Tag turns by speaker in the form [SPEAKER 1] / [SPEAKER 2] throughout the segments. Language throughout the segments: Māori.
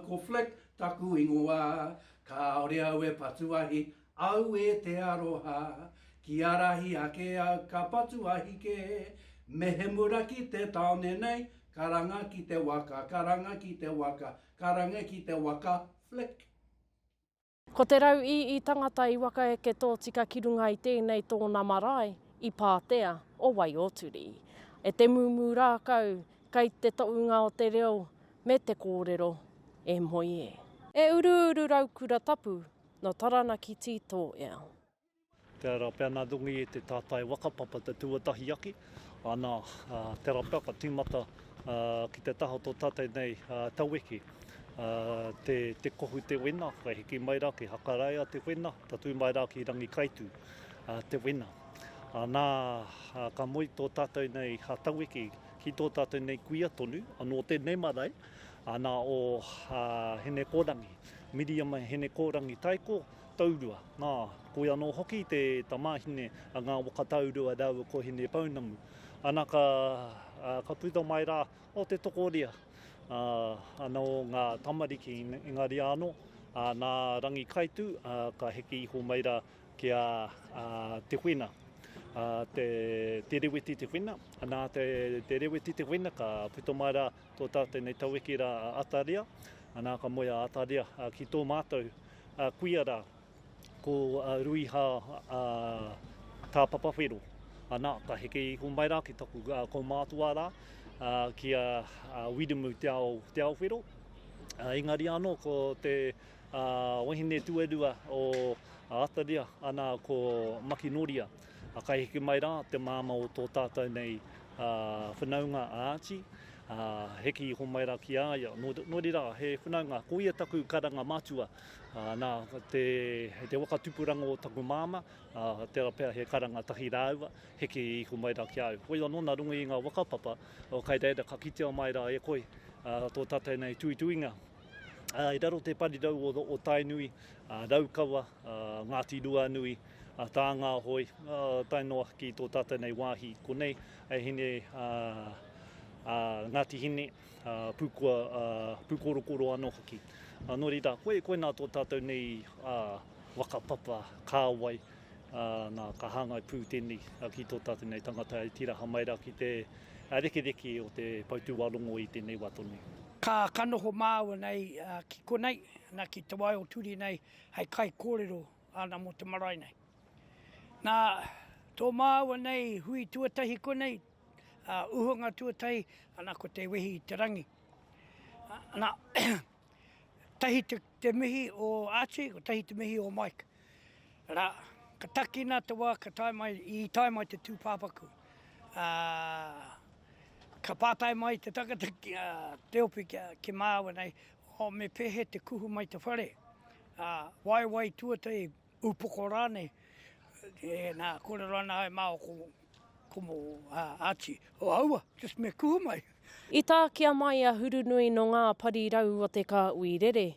[SPEAKER 1] Ko Flick taku ingoa Kāore au e patu ahi Aue te aroha, ki arahi ake au ka patu ahike, mehemura ki te taone nei, karanga ki te waka, karanga ki te waka, karanga ki te waka, flick.
[SPEAKER 2] Ko te rau i i tangata i wakaeke tōtika ki runga i tēnei tōna marae, i Pātea o Waiōturi. E te mūmū rākau, kei te toʻunga o te reo me te kōrero, e moe e. E uruuru raukura tapu, Nō Taranaki tī tō ea. Tērā rā
[SPEAKER 3] pea nā Dunga Ii te tātai waka papa te tuatahi ake, ana, tērā pea ka tīmata ki te taha o tō tātai nei taueke te kohu te wena, ka hiki mai rā ki Hakaraia te wena, tatū mai rā ki Rangikaitu te wena. Ana, ka moe tō tātou nei taueke ki tō tātou nei kuia tonu, nō Tēnei marae, ana, o Hinekōrangi. Miriama Henekōrangi Taiko, Taurua, ā, koia anō hoki te tamāhine a Ngā Waka Taurua rāua ko Hinepounamu. Ana ka, ā, ka puta mai rā, o te tokoria, ā, anō ngā tamariki, engari anō, ā, nā Rangikaitū, ā, ka heke iho mai rā ki a, ā, Te Whena, ā, te, Te Reweti Te Whena, nā te, te Reweti Te Whena ka puta mai rā, Tō tā tēnei tawhiki rā a Ataria, nā ka moe a Ataria ki tō mātou kuia rā, ko Ruiha Tāpapawhero. Nā, ka heke iho mai rā ki taku kaumātua rā, ki a Wirimu Te Ao, Te Ao Whero. Engari anō ko te wahine tuarua o Ataria, nā, ko Makinoria. Ā, kai hiki mai rā te māmā o tō tātou nei whanaunga a Āti, ā, hiki iho mai rā ki a ia, nō, nō reira, he whanaunga, ko ia taku karanga matua, ā, nā, te, hei te waka tupuranga o taku māmā, ā, tērā pea he karanga tahi rāua, hiki iho mai rā ki a au. Koia nō nā runga i ngā waka papa, ō, kai reira ka kitea mai rā e koe, ā, tō tātou nei tuituinga, ā, i raro te parirau o, o Tainui, ā, Raukawa, ā, Ngāti Ruanui, a Tānga Ahoi, tae noa ki tō tātou nei wāhi konei, e hine a, a Ngāti Hine, a Pūkua, a Pūkorokoro anō hoki. A, nō reira, koe, koe nā tō tātou nei a, waka papa, kāwai, a, nā, ka hāngai pū tēnei a, ki tō tātou nei tangata e tiraha mai rā ki te a, rekereke o te poutūārongo i tēnei wā tonu. Ka, ka noho
[SPEAKER 4] māua nei a, ki konei, nā, ki te wai o Turi nei, hei kaikōrero. Ana mō te marae nei. Nā tō māua nei hui tuatahi konei, ā, uhunga tuatahi, ana ko te wehi i te rangi. Ana, tahi te, te mihi o Archie, ko tahi te mihi o Mike. Rā, ka takina te wā ka tae mai, i tae mai te tūpāpaku. Ā, ka pātai mai te tangata ki a Te Ope ki, ki māua nei, o me pēhea te kuhu mai te whare? ā, waewae tuatahi, upoko rānei, e, nā, kōrero ana ai māua ko, ko mō, ā, Archie, o aua, just me kuhu mai. I tākia
[SPEAKER 2] mai a Hurunui nō ngā parirau o te kāui rere.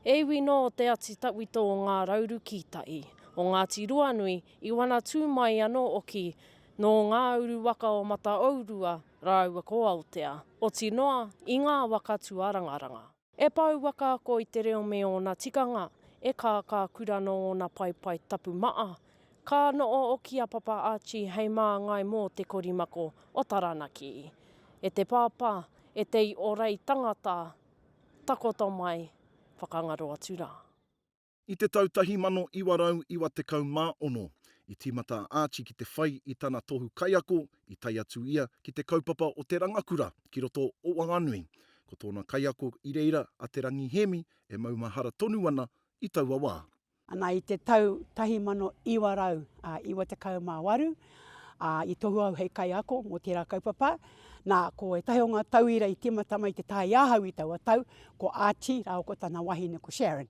[SPEAKER 2] E iwi nō te ati tawhito o ngā rauru kītai, o Ngāti Ruanui, i wana tū mai anō oki nō ngā uru waka o Mataourua rāua ko Aotea, oti noa i ngā waka tuarangaranga. E pouaka ako i te reo me ōna tikanga, e kākā kura nō ōna paepae tapu maa. Ka noo oki a Papa Archie hei māngai mō te korimako o Taranaki. E te Pāpā, e te i orei tangata, takoto mai, whakangaro atu rā. I te
[SPEAKER 5] tau 1996, i tīmata a Archie ki te whai i tana tohu kaiako i tae atu ia ki te kaupapa o Te Rangakura ki roto o Wanganui. Ko tōna kaiako i reira a Te Rangi Hēmi e maumahara tonu ana i taua wā. Ana i te
[SPEAKER 6] tau 1998, ā, i tohua au hei kaiako mō tērā kaupapa. Nā, ko ētahi o ngā tauira i tīmata mai ki te taha i ahau i taua tau, ko Archie rāua ko tana wahine ko Sharon.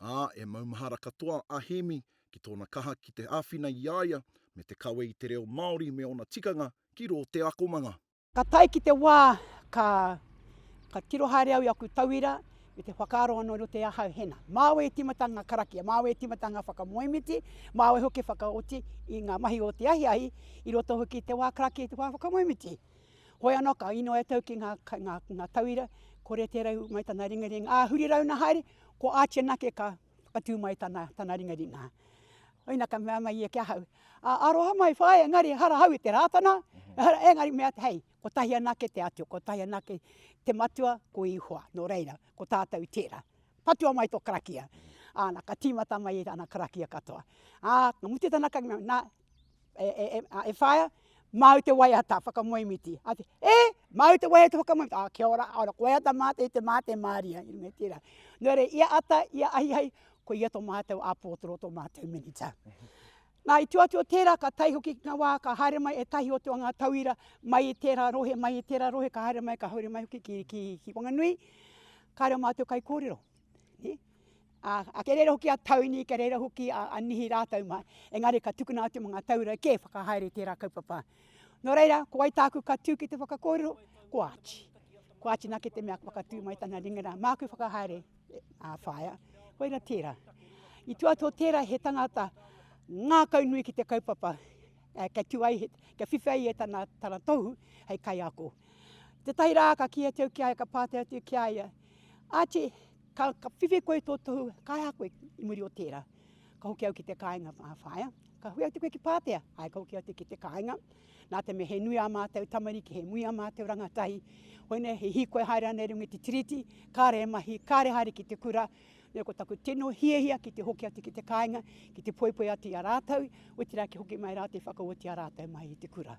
[SPEAKER 6] ā, e
[SPEAKER 5] maumahara katoa a Hēmi ki tōna kaha ki te āwhina i a ia me te kawe i te reo Māori me ōna tikanga ki rō te akomanga. Ka tae ki te
[SPEAKER 6] wā ka ka tiro haere au i aku tauira me te whakaaro anō i roto i ahau hena. Māu e tīmata ngā karakia, māu e tīmata ngā whakamoemiti, māu hoki e whakaoti i ngā mahi o te ahiahi, i roto hoki i te wā karakia i te wā whakamoemiti. Hoi anō ka ino e tau ki ngā, ngā, ngā tauira, kore te rau mai tana ringaringa. Ā, huri rau na haere, ko Archie nake ka, ka tū mai tana, tana ringaringa. Oina ka mea mai ia ki ahau, ā, aroha mai whaea, engari ehara hau i te Rātana, mhm. ehara, engari mea te hei, kotahi anake te Atua, kotahi anake te Matua, ko Ihoa, nō reira, ko tātou tērā. Patua mai tō karakia. Āna, ka tīmata mai ana karakia katoa. Ā, ka mutu tana karakia, nā, E, e, e, a, e whaia, māu te waiata whakamoemiti. A te, e, māu te waiata whakamoemiti. A, kia ora, ora, koe ata māte i te māte māria. I runga tērā. Nō re, ia ata, ia ahihai, ko ia tō mātou a pōtoro, tō mātou minita. Nā, i tua tua tērā, ka tai hoki ki ngā wā, ka haere mai e tahi o te wanga tauira, mai i tērā rohe, mai i tērā rohe, ka haere mai, ka haere mai hoki ki, ki, ki Wanganui. Ka reo mātou kai kōrero. Ā, kei reira hoki a Tony, kei reira hoki a, a Nihi rātou mā, engari ka tukuna atu mā ngā taura kē whakahaere i tērā kaupapa. Nō reira, ko wai tāku ka tū ki te whakakōrero? Ko Archie. Ko Archie nā ke te mea kua ka tū mai tana ringa rā, māku whakahaere, e, ā, whaea. Koira tērā. I tuatoa tērā he tangata ngākau nui ki te kaupapa, e, kia tū ai, he, kia whiwhi ai e tana, tana tohu hei kaiako. Tētahi rā ka kīia atu au ki a ia, ka pātai atu ki a ia, Archie, Ka whiwhi koe i tō tohu kaihakoe i muri o tērā. Ka hoki au ki te kāinga whāwhāia. Ka hui atu koe ki Pātea. Āe, ka hoki atu ki te kāinga. Nā te mea he nui ā mātou tamariki, he nui ā mātou rangatahi. Koinei, he hīkoi haere ana i runga i te Tiriti, kāre e mahi, kāre haere ki te kura. Nō ko taku tino hiahia ki te hoki atu ki te kāinga, ki te poipoi atu i a rātou, otirā kia hoki mai rātou i whakaoti ā rātou mahi i te kura.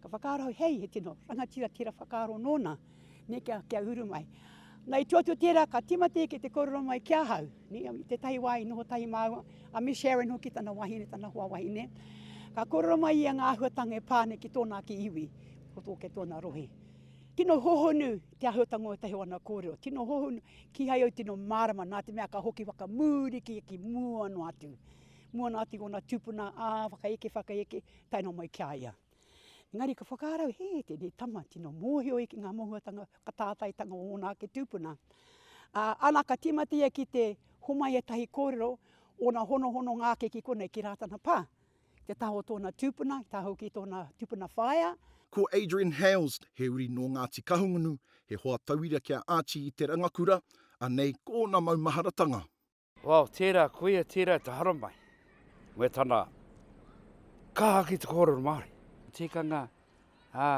[SPEAKER 6] Ka whakaaro au, hei, he tino rangatira tērā whakaaro nōna. Nē, kia, kia uru mai. Nei tu atu tērā ka tima tē ki te kororo mai ki ahau. Nē, i te tahi wā i noho tahi māua, a Miss Sharon hoki tana wahine, tana hoa wahine. Ka kororo mai ia ngā ahuatanga e pā ana ki tōna ake iwi, ko tōke tōna rohe. Tino hohonu te ahuatanga o ētahi o ana kōrero, tino hohonu, kīhai au tino mārama, nā te mea ka hoki whakamūri ki, ki mua noa atu. Mua noa atu i ōna tūpuna, ā, whakaeke, whakaeke, tae noa mai ki a ia. Engari ka whakarau, he, tēnei tama tino mōhio ki ngā mohuatanga, ka tātaitanga o ōna ake tūpuna. Ā, ana ka tīmata ia ki te homai ētahi kōrero, ōna honohononga ake ki konei, ki rā tana pā, te taha o tōna tūpuna, te taha hoki i tōna tūpuna whaea. Ko Adrian
[SPEAKER 5] Hales, he uri nō Ngāti Kahungunu, he hoa tauira ki a Archie i te rangakura, anei ko ōna maumaharatanga. Wao, tērā
[SPEAKER 7] koia, tērā te haramai me tana kaha ki te kōrero Māori. Tikanga, ā,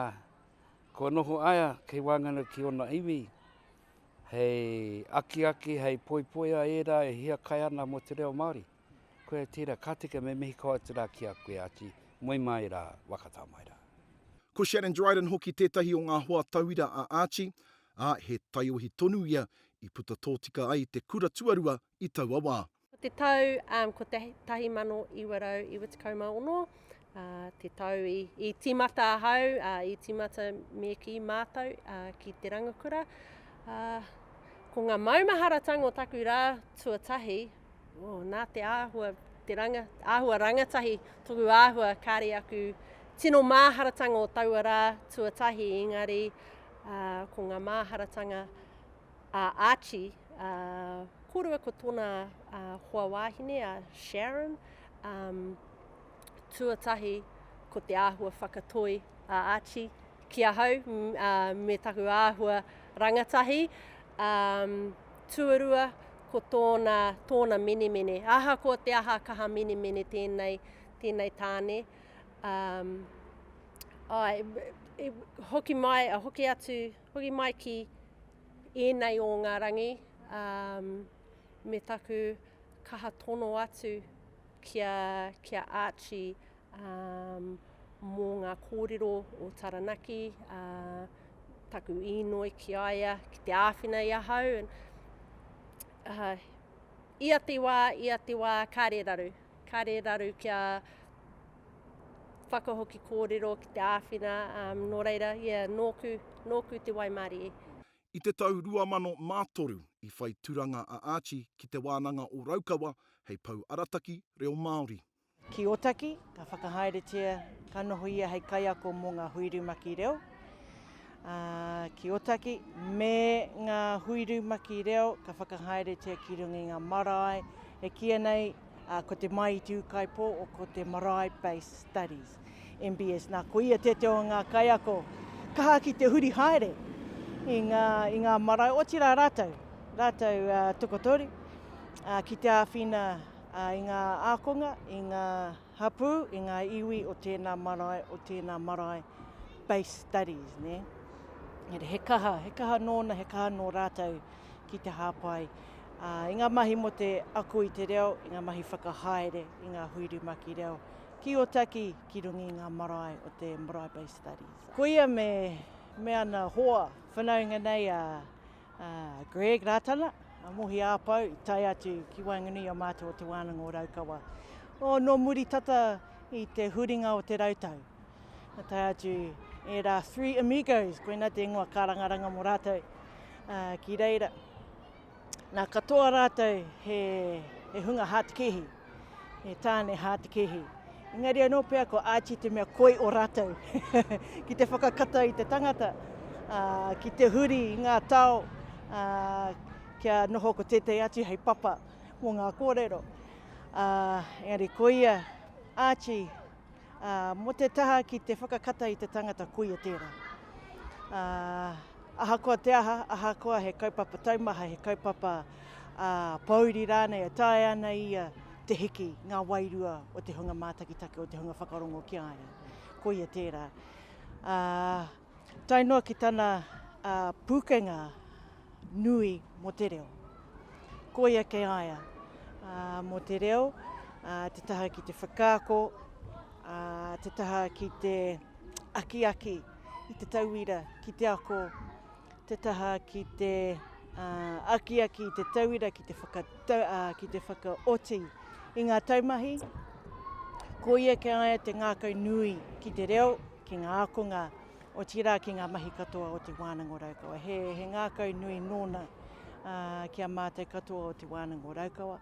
[SPEAKER 7] kua noho aia kei waenganui ki ōna iwi, hei akiaki, hei poipoia ērā e hiakai ana mō te reo Māori. Koia tērā, ka tika me mihi kau atu rā ki a koe, Āti, moe mai rā, whakatā mai rā. Ko Shannon
[SPEAKER 5] Dryden hoki tētahi o ngā hoa tauira a Āti, ā, he taiohi tonu ia i puta tōtika ai te kura tuarua i taua wā. Ko te tau
[SPEAKER 2] 1996 te tau i tīmata ahau, i tīmata me kī mātou ki Te Rangakura. Ko ngā maumaharatanga o taku rā tuatahi, Oh, nā te āhua, te ranga, āhua rangatahi, toku āhua, kāre aku tino māharatanga o taua rā tuatahi, engari uh, ko ngā māharatanga a uh, Archie, uh, kōrua ko tōna uh, hoa wāhine a Sharon, um, tuatahi ko te āhua whakatoi a Archie ki ahau me taku āhua rangatahi. Um, tuarua, ko tōna, tōna menemene. Aha ko te aha kaha menemene tēnei, tēnei tāne. Um, ai, e, hoki mai, hoki atu, hoki mai ki ēnei o ngā rangi, um, me taku kaha tono atu Ki a, ki a Archie, ā, mō ngā kōrero o Taranaki, ā, taku īnoi ki a ia, ki te āwhina i ahau, ā, ia te wā, ia te wā, kāre raru, kāre raru kia whakahoki kōrero ki te āwhina, ā, nō reira, ia, nōku, nōku te waimarie. I te tau
[SPEAKER 5] 2003 i whai turanga a Archie ki Te Wānanga o Raukawa hei pou arataki reo Māori. Ki Ōtaki,
[SPEAKER 8] ka whakahaeretia, ka noho ia hei kaiako mō ngā hui rumaki reo, ā, ki Ōtaki, me ngā hui rumaki reo ka whakahaeretia ki runga i ngā marae e kīia nei, Ā, ko te Māiti Ūkaipō o ko te Marae Based Studies, MBS, nā, ko ia tētehi o ngā kaiako kaha ki te huri haere i ngā, i ngā marae, otirā rātou, rātou uh, tokotoru, uh, ki te āwhina uh, i ngā ākonga, i ngā hapū, i ngā iwi o tēnā marae, o tēnā marae, based studies, ne? He kaha, he kaha nōna, he kaha nō rātou ki te hāpai i ngā mahi mō te ako i te reo, i ngā mahi whakahaere i ngā hui rumaki reo ki Otaki ki runga i ngā marae o te Marae Bay Studies. Ko ia me, me ana hoa whanaunga nei a, a Greg Rātana, a Mohi Āpau, i tae atu ki waenganui a mātou o Te Wānanga o Raukawa. O, nō muri tata i te huringa o te rautau. Ka tae atu era three amigos, koina te ingoa karangaranga mo ratou uh, ki reira. Na katoa ratou he, he hunga hātikihi, he tāne hātikihi. Engari anō pea ko Archie te mea koi o ratou ki te whakakata i te tangata, uh, ki te huri i ngā tao, uh, kia noho ko tētai atu hei papa mo ngā kōrero. Uh, engari koia Archie, ā, mō te taha ki te whakakata i te tangata koia tērā. Ā, ahakoa te aha, ahakoa he kaupapa taumaha, he kaupapa ā, pōuri rānei e taea ana ia te hiki ngā wairua o te hunga mātakitaki, o te hunga whakarongo ki a ia. Koia tērā. Ā, Tae noa ki tana pūkenga nui mō te reo. Koia kei a ia mō te reo, te taha ki te whakaako, te taha ki te akiaki i te tauira ki te ako, te taha ki te akiaki i te tauira ki te whakaoti i ngā taumahi. Koia kei a ia te ngākau nui ki te reo. ki ngā ākonga, otirā ki ngā mahi katoa o Te Wānanga o Raukawa. He, he ngākau nui nōna ā, ki a mātou katoa o Te Wānanga o Raukawa.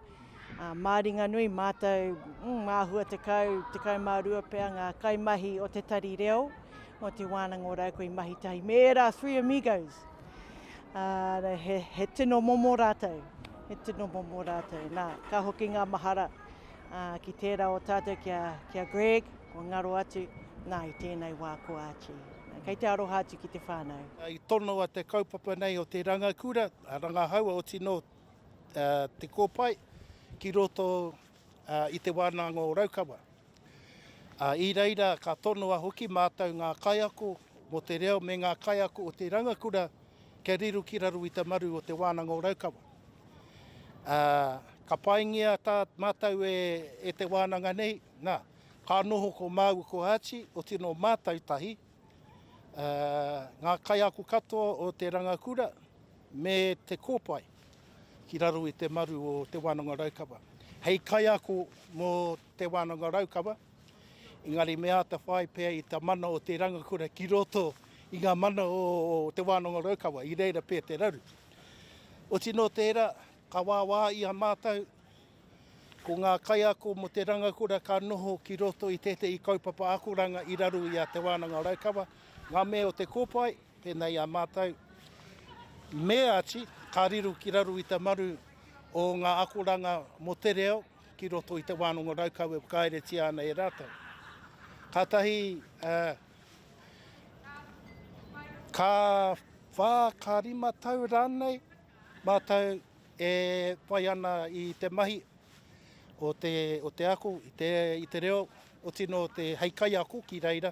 [SPEAKER 8] Ā, mā ringa nui mātou, mm, mā hua tekau, tekau mā rua pea ngā kaimahi o te tari reo o Te Wānanga o Raukawa i mahi tahi me ērā Three Amigos. Ā, he, he tino momo rātou, he tino momo rātou. Nā, ka hoki ngā mahara Ki tērā o tātou ki a, ki a Greg, kua ngaro atu, nā, i tēnei wā ko Archie. Kei te aroha atu ki te whānau. I tonoa te
[SPEAKER 9] kaupapa nei o te rangakura, a rangahau, oti nō Te Kōpae, ki roto i te wānanga o Raukawa. I reira ka tonoa hoki mātou ngā kaiako mō te reo me ngā kaiako o te rangakura Kia riru ki raro i te maru o Te Wānanga o Raukawa. Ā, ka paingia tā mātou e, e te wānanga nei, nā, ka noho ko māua ko Archie, o tino mātou tahi, ā, ngā kaiako katoa o te rangakura me te kōpae ki raro i te maru o Te Wānanga o Raukawa. Hei kaiako mō Te Wānanga o Raukawa, Engari me āta whai pea i ta mana o te rangakura ki roto i nga mana o Te Wānanga Raukawa, i reira pea te raru. Oti no tera, ka wāwā i a mātou, ko nga kaiako mo te rangakura ka noho ki roto i tētehi kaupapa akoranga i raru i a Te Wānanga Raukawa, nga mea o te kopai, pēnei a mātou, me ati, ka riru ki raru i ta maru o nga akoranga mo te reo, ki roto i te wānanga raukawa e whakaeretia ana e rātou. Kātahi, ka whā, ka rima tau rānei, mātou e whai ana i te mahi o te, o te ako, i te, i te reo, o tino te hei kaiako ki reira,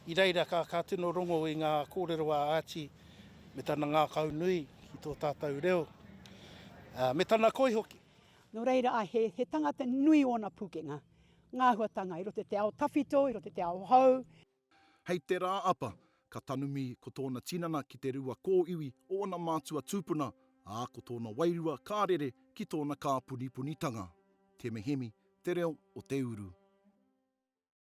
[SPEAKER 9] i reira ka, ka tino rongo i ngā kōrero a Āti me tana ngākau nui ki tō tātou reo, me tana koi hoki. Nō reira, ā,
[SPEAKER 6] he, he tangata nui ōna pūkenga, ngā āhuatanga i roto i te ao tawhito, i roto i te ao hou. Hei te
[SPEAKER 5] Rā Apa, ka tanumi ko tōna tinana ki te rua kōiwi o ana mātua tūpuna, ā, ko tōna wairua ka rere ki tōna kāpunipunitanga. Te Mehemi, te reo o te uru.